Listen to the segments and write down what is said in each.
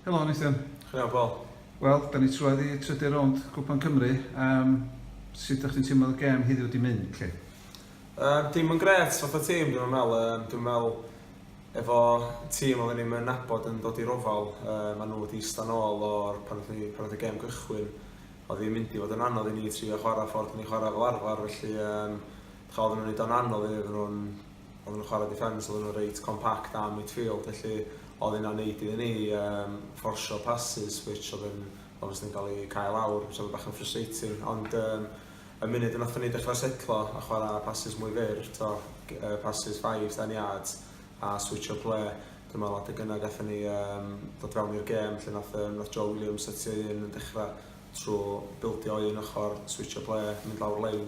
Helo Nathan. Helo Paul. Wel, da ni trwad i trydydd rownd Cwpan Cymru. Um, sut ydych chi'n teimlo'r gêm heddiw wedi mynd, lle? Um, dim yn gret, fath o tîm, dwi'n meddwl. Um, dwi'n meddwl efo tîm oedden ni'n mynd nabod yn dod i'r ofal, um, maen nhw wedi eistedd nôl o'r pan oedd y pan gem gychwyn, oedd hi'n mynd i fod yn anodd i ni trio chwarae ffordd ni chwarae fel arfer, felly um, chael nhw'n ei o'n anodd iddyn nhw'n Oedden nhw'n chwarae defence, oedden nhw'n reit compact a midfield, felly oedd hynna'n neud iddyn ni um, fforsio passes, which oedd yn obviously yn cael ei cael awr, which oedd bach yn frustrating, ond um, y munud yn oeddwn ni dechrau setlo a chwarae passes mwy fyr, to, uh, passes 5, 10 yards, a switch o ple, dyma lot o gynnau gatho ni um, dod fewn i'r gêm, lle nath, um, nath Joe Williams setio un yn dechrau trwy bildio un ochr, switch o ple, mynd lawr lein,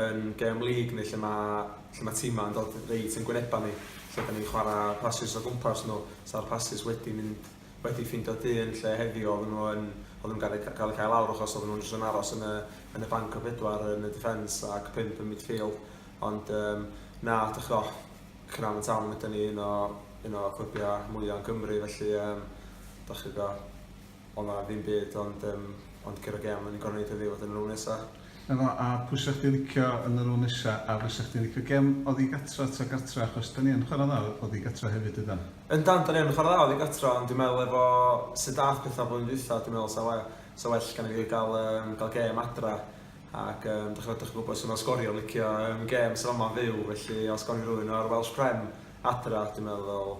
yn gêm lig ni lle mae lle mae timau yn dod reit yn gwynebau ni lle dan ni'n chwarae pasys o gwmpas nhw sa'r pasys wedi mynd wedi ffindio du yn lle heddiw oedden nhw yn oedden nhw'n gael eu cael eu cael lawr achos oedden nhw'n jyst yn aros yn y yn y banc o bedwar yn y defence ac pump yn midfield ond um, na dych chi'n off Cynarfon Town ydy ni un o un o clybiau mwyaf yn Cymru felly um, dych chi'n O na ddim byd ond yym ond curo gem o'n i'n gorfod neud heddiw a dyna rôl nesa. Na fo, a pwy sa chdi'n licio yn y rôl nesa a fysa chdi'n licio gem oddi gatra ta gartra achos dan ni yn chwara dda oddi gatra hefyd ydan? Yndan dan ni yn chwara dda oddi gatra ond dwi'n meddwl efo sud ddath petha flwyddyn dwytha dwi'n meddwl sa we- sa well genna fi ga'l yym ga'l gem adra ac yym dych dych chi'n gwbod su ma sgorio licio yym gems yn fama'n fyw felly os gawn ni rywun o'r Welsh Prem adra dwi'n meddwl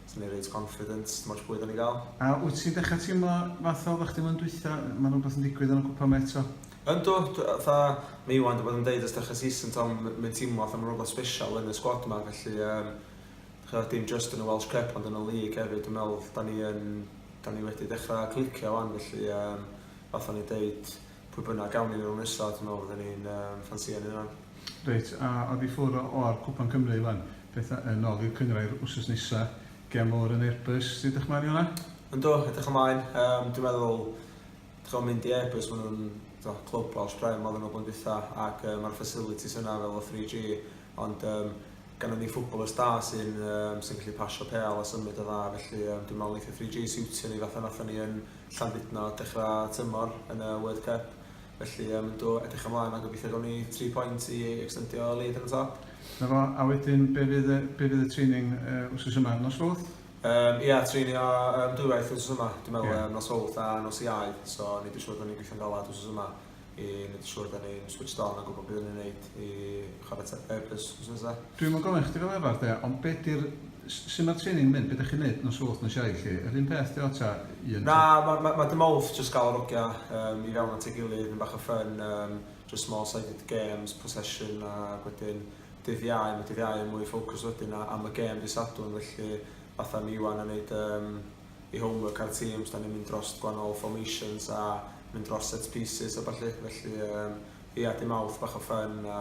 Ti'n mynd reit confident, dim ots pwy dan ni'n gael. A wyt ti'n dechrau teimlo fatha oeddach chdi flwyddyn dwytha, ma' na wbath yn digwydd yn y cwpan ma eto? Yndw, dw- fatha ma Iwan di bod yn deud ers dechrau season t'o' m- mae'n teimlo fatha ma' rwbath sbeshal yn y sgwad ma felly yym ch'o' dim jyst yn y Welsh Cup ond yn y League hefyd dwi'n meddwl dan ni yn dan ni wedi dechra clicio wan felly yym fatha o'n i'n deud Pwy bynnag gawn ni nhw nesa dwi'n meddwl fydden ni'n um, ffansio nhw yna. Reit, a oedd i ffwrdd o'r Cwpan Cymru wan, beth yn ôl i'r cyngrair wrsos nesa, gem o'r yn Airbus, ti'n edrych mlaen i hwnna? Ynddo, edrych ymlaen, um, dwi'n meddwl, dwi'n mynd i Airbus, maen nhw'n do, clwb o Australia, maen nhw'n blwyddyn dwytha, ac um, mae'r facilities yna fel o 3G, ond um, Gynnon ni footballers da sy'n um, sy'n gallu pasio pêl a symud yn dda, felly um, dwi'n meddwl eitha 3G siwtio ni fatha nathon ni yn Llandudno dechrau tymor yn y World Cup. Felly um, do, edrych ymlaen a gobeithio gawn ni 3 pwynt i extendio lead yn y top. Na fo, a wedyn be fydd, be fydd y training uh, wrth yma, nos fawth? Um, ia, treinio um, dwywaith wrth yma, dwi'n meddwl, yeah. um, nos fawth a nos iau, so ni dwi'n siŵr bod ni'n gweithio'n galad wrth yma. i wneud yn siŵr da ni'n switched on a gwybod beth ni'n wneud i chwarae Ten Purpose wythnos nesa. Dwi'm yn gofyn chdi fel arall de, ond be di'r, sut mae'r training yn mynd, be dach chi'n wneud nos Sulwch, nos Iau lly? Yr un peth dio ta un? Na, mae ma, ma dim off, jyst gael yr ogia um, i fewn at ei gilydd, mynd bach o ffyn, um, just small sided games, possession a wedyn dydd iau, mae dydd iau yn mwy ffocws wedyn am y gêm di Sadwn, felly fatha mi Iwan yn neud um, i homework ar teams, da ni'n mynd dros gwahanol formations a mynd dros set pieces a ballu, felly um, ia, dim awth bach o ffyn a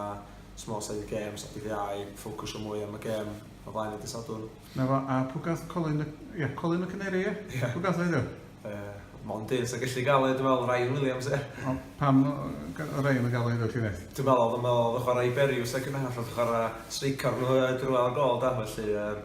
small side games a dydd iau, ffocwsio mwy am y gem o flaen y dysadwn. Na fo, a pwy gath Colin, ia, Colin y Caneri, ia? Yeah. Pwy gath oedd yw? Uh, Mond un sy'n gallu gael ei, dwi'n meddwl, Ryan Williams, ia. O, pam Ryan yn gael ei ddod llinell? Dwi'n meddwl, dwi'n meddwl, oedd chwarae i Beriws ac yn half, oedd chwarae streaker nhw drwy al gol, da, felly, um,